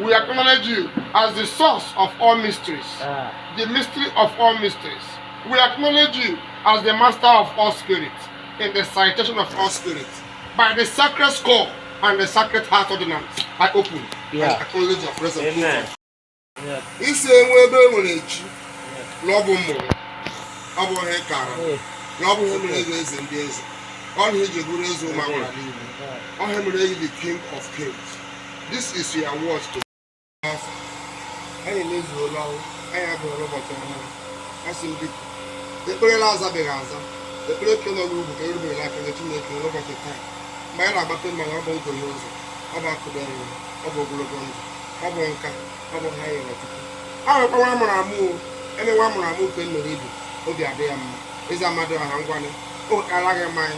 We acknowledge you as the source of all mysteries, ah. the mystery of all mysteries. We acknowledge you as the master of all spirits, in the citation of all spirits. By the sacred skull and the sacred heart ordinance, I open yeah. and acknowledge your presence. Amen. Yeah. Isi enwe ebe enwere echi na ọ bụ mmụrụ ọ bụ ihe kara na ọ bụ ihe mere eze eze ndị eze ọ na eji bụrụ eze ụmụ agwara niile ọ ihe mere eji the king of kings This is your word to anyị emezuola ọrụ anyị abụghị ụbọchị ọhụrụ asị m biko ekpere la azabeghị aza ekpere ke nọ n'ugwu ka erubere aka nye Chineke n'ụbọchị taa mgbe anyị na-agbata mmanụ ọ bụ nguhe ụzọ ọ bụ akụda nri ọ bụ ogologo ndụ ọ bụ nka ọ bụ ihe a yọrọ Chukwu a nwekwa nwa mụrụ amụ eme nwa mụrụ amụ nke mere ibe obi adị ya mma Eze Amadioha ngwanụ o kara gị mmanya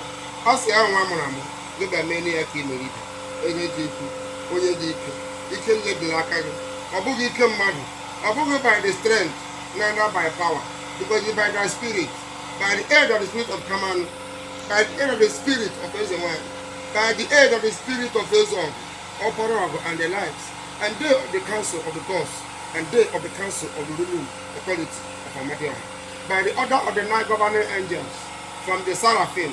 ọ sị ya nwa mụrụ amụ gị bịa mee ya ka ị mere ibe onye dị ukwu onye dị ike ike niile dị n'aka gị ọ bụghị ike mmadụ ọ bụghị by the strength neither by power because it's by the spirit by the aid of the spirit of Kamanu by the aid of the spirit of Eze Nwanyị by the aid of the spirit of Eze Ọfọ ọpara ogu and the likes and they of the council of the gods and they of the council of the ruling authority of Amadioha by the order of the nine governing angels from the seraphim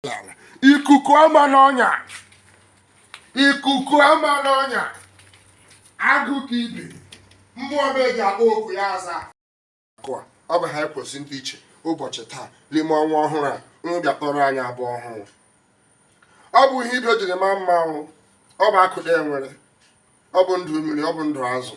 n'ala ikuku ama n'ọnya ikuku ama n'ọnya agụ ka ibe mmụọ m eji akpọ oku ya aza akụa ọ bụ ha ekwesị ndị ichie ụbọchị taa n'ime ọnwa ọhụrụ a unu bịa kpọrọ anyị abụ ọhụrụ ọ bụ ihe ibe jiri ma mma ọ bụ akụ na enwere ọ bụ ndụ mmiri ọ bụ ndụ azụ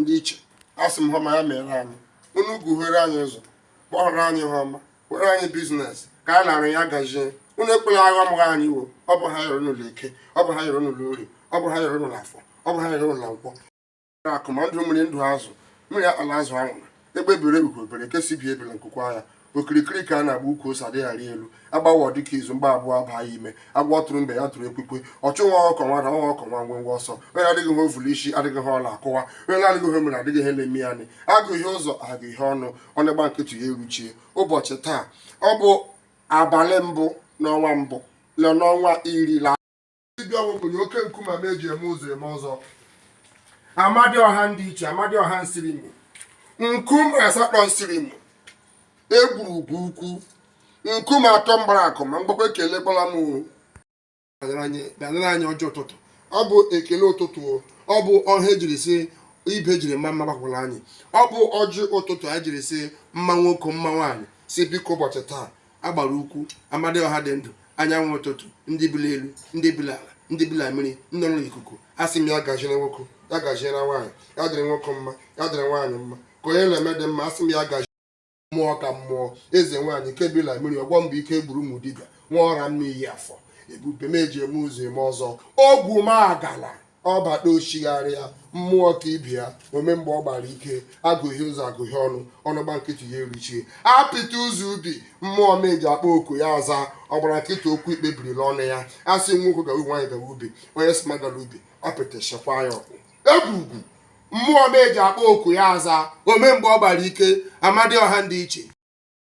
ndị ichie asị m ihe ọma ya mere anyị unu guhere anyị ụzọ kpọrọ anyị ihe ọma were anyị biznes ka a na-arụ ya gazie unu ekwela agha mụrụ anyị iwo ọ bụ ihe a yọrọ n'ụlọ eke ọ bụ ihe a yọrọ n'ụlọ orie ọ bụ ihe a yọrọ n'ụlọ afọ ọ bụ ihe a yọrọ n'ụlọ nkwọ akụ ma ndụ mmiri ndụ azụ mmiri akpala azụ anwụla egbe bere ugo bere nke sị ibe ebela nku kwaa ya okirikiri ka a na-agba ukwu ose adịghị arị elu agbawọ dike izu mgba abụọ abaa ya ime agba tụrụ mbe ya tụrụ ekwekwe ọchụ nwa ọkọ nwe ada nwa ọkọ nwe ngwe ngwe ọsọ onye adịghị ihe o vu l'isi adịghị ihe ọ la-akụwa onye na-adịghị ihe o mere adịghị ihe na-eme ya nị aguhe ụzọ aguhe ọnụ ọ na-agba nkịtị ya eruchie ụbọchị taa ọ bụ abalị mbụ n'ọnwa mbụ na n'ọnwa iri dibịa ọgwụ kpụnye oke nkume ma eji eme ụzọ eme ọzọ amadioha ndị ichie amadioha nsirimo nkume asatọ nsirimo egwurugwu ukwu nkume atọ mgbara akụ ma mgbakwa ekele gbara m anyị ọjị ụtụtụ ọ bụ ekele ụtụtụ ọ bụ ọha ejiri si ibe jiri ma mma gbakwara anyị ọ bụ ọjị ụtụtụ anyị jiri si mma nwoke mma nwaanyị si biko ụbọchị taa agbara ukwu amadioha dị ndụ anyanwụ ụtụtụ ndị bi la elu ndị bi la ala ndị bi la mmiri ndị nọ n'ikuku asị m ya gaziere nwoke ya gaziere nwaanyị ya dịrị nwoke mma ya dịrị nwaanyị mma ka onye na-eme dị mma asị m ya gazi mmụọ ka mmụọ eze nwaanyị nke bi la mmiri ọgwọ mgbe ike gwụrụ ụmụ dibịa nwa ọra m n'iyi afọ ebube m eji eme ụzọ eme ọzọ ogwumagala ọ bata ochigharịa mmụọ ka ibe ya ome mgbe ọ gbara ike agụghị ụzọ agụghị ọnụ ọnụ gba nkịtị ya eruchie apịta ụzọ ubi mmụọ m eji akpa oku ya aza ọgbara nkịtị okwu ikpe biri la ọnụ ya asị nwoke gawa nwaanyị gawa ubi onye sị m agala ubi apịta chekwa ya ọkụ egwugwu mmụọ m eji akpa oku ya aza ome mgbe ọ gbara ike amadioha ndị ichie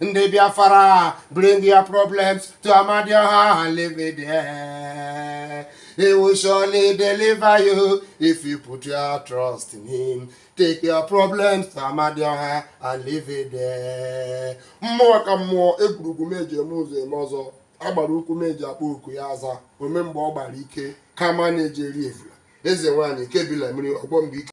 ndị biafara bring your problems to amadioha and leave it there he will surely deliver you if you put your trust in him take your problems to amadioha and leave it there mmụọ ka mmụọ egwurugwu m eji eme ụzọ eme ọzọ agbara ukwu m eji akpa oku ya aza ome mgbe ọ gbara ike kamanụ eji eri evula eze nwaanyị ke bi la mmiri ọgwọ mgbe ike